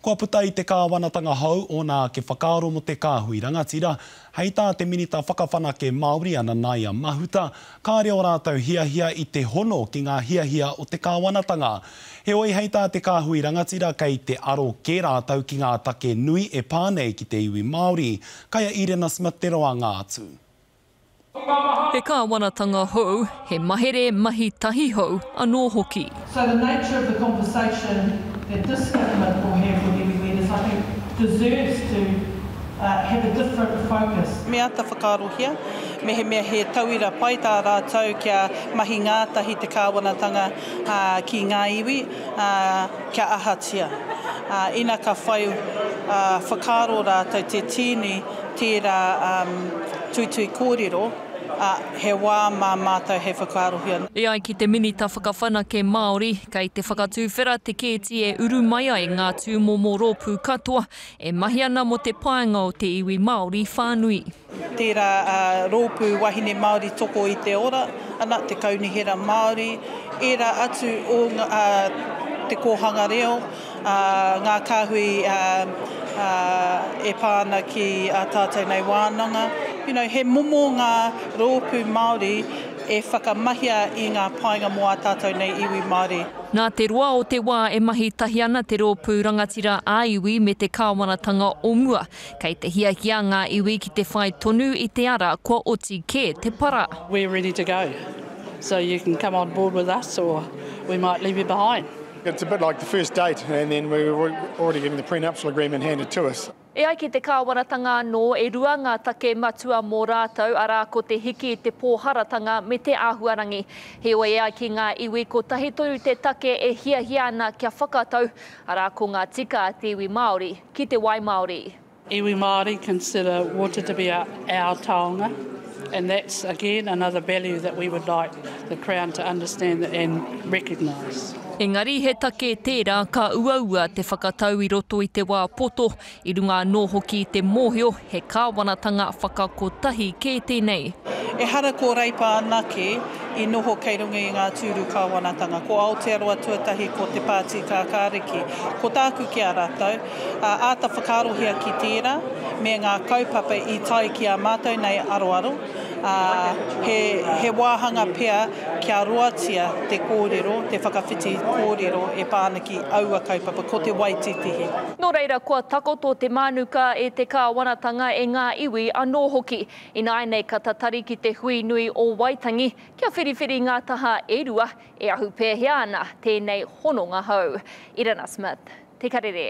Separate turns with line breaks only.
Kua puta i te kāwanatanga hou ōna ake whakaaro mō te kāhui rangatira, hei tā te Minita Whakawhanake Māori a Nanaia Mahuta, kāore ō rātou hiahia i te hono ki ngā hiahia o te kāwanatanga. Heoi, hei tā te kāhui rangatira kei te aro kē rātou ki ngā take nui e pā nei ki te iwi Māori, kai a Irena Smith te roanga atu.
He kāwanatanga hou, he mahere mahi tahi hou anō hoki. So the nature of
the conversation that this government will have with iwi leaders I think deserves to have a different focus. Me āta whakaarohia
mehemea he tauira pai tā rātou kia mahi ngātahi te kāwanatanga ki ngā iwi kia ahatia ina ka whai whakaaro rātou te tīni. Tērā tuitui kōrero, ā, he wā mā mātou hei whakaarohia. E ai ki te Minita
Whakawhanake Māori, kei te whakatuwhera te kēti e uru mai ai ngā tūmomo rōpū katoa e mahi ana mō te paenga o te iwi Māori whānui. Tērā
rōpū wahine Māori toko i te ora, ana, te Kaunihera Māori, ērā atu o Te Kōhanga Reo, ngā kāhui e pā ana ki ā tātou nei wānanga. You know, he momo ngā rōpū Māori e whakamahia i ngā painga mō ā tātou nei iwi Māori. Nā te roa o
te wā e mahi tahi ana te rōpū rangatira ā-iwi me te kāwanatanga o mua. Kei te hiahia ngā iwi ki te whai tonu i te ara kua oti kē te para. We're ready to go,
so you can come on board with us or we might leave you behind. It's a bit like the
first date and then we were already getting the prenuptial agreement handed to us. E ai ki te kāwanatanga
anō, e rua ngā take matua mō rātou, arā, ko te hiki i te pōharatanga me te āhuarangi. Heoi, e ai ki ngā iwi, kotahi tonu te take e hiahia ana kia whakatau, arā, ko ngā tika a te iwi Māori ki te wai māori. Iwi Māori
consider water to be our taonga and that's again another value that we would like the Crown to understand and recognise. Engari he
take tērā ka uaua te whakatau i roto i te wā poto, i runga anō hoki i te mōhio he kāwanatanga whakakotahi kē tēnei. Ehara ko
Reipa anake i noho kei runga i ngā tūru kāwanatanga, ko Aotearoa tuatahi ko Te Pāti Kākāriki. Ko tāku ki a rātou, Ka āta whakaarohia ki tērā me ngā kaupapa i tae ki ā mātou nei aroaro, ā, he, he wāhanga pea kia roatia te kōrero, te whakawhiti kōrero e pā ana ki aua kaupapa, ko te waititihi. Nō reira, kua
takoto te mānuka e te kāwanatanga, e ngā iwi anō hoki. Ināianei ka tatari ki te hui nui o Waitangi, kia whiriwhiri ngā taha e rua, E ahu pēhea ana tēnei hononga hou? Irena Smith, Te Karere.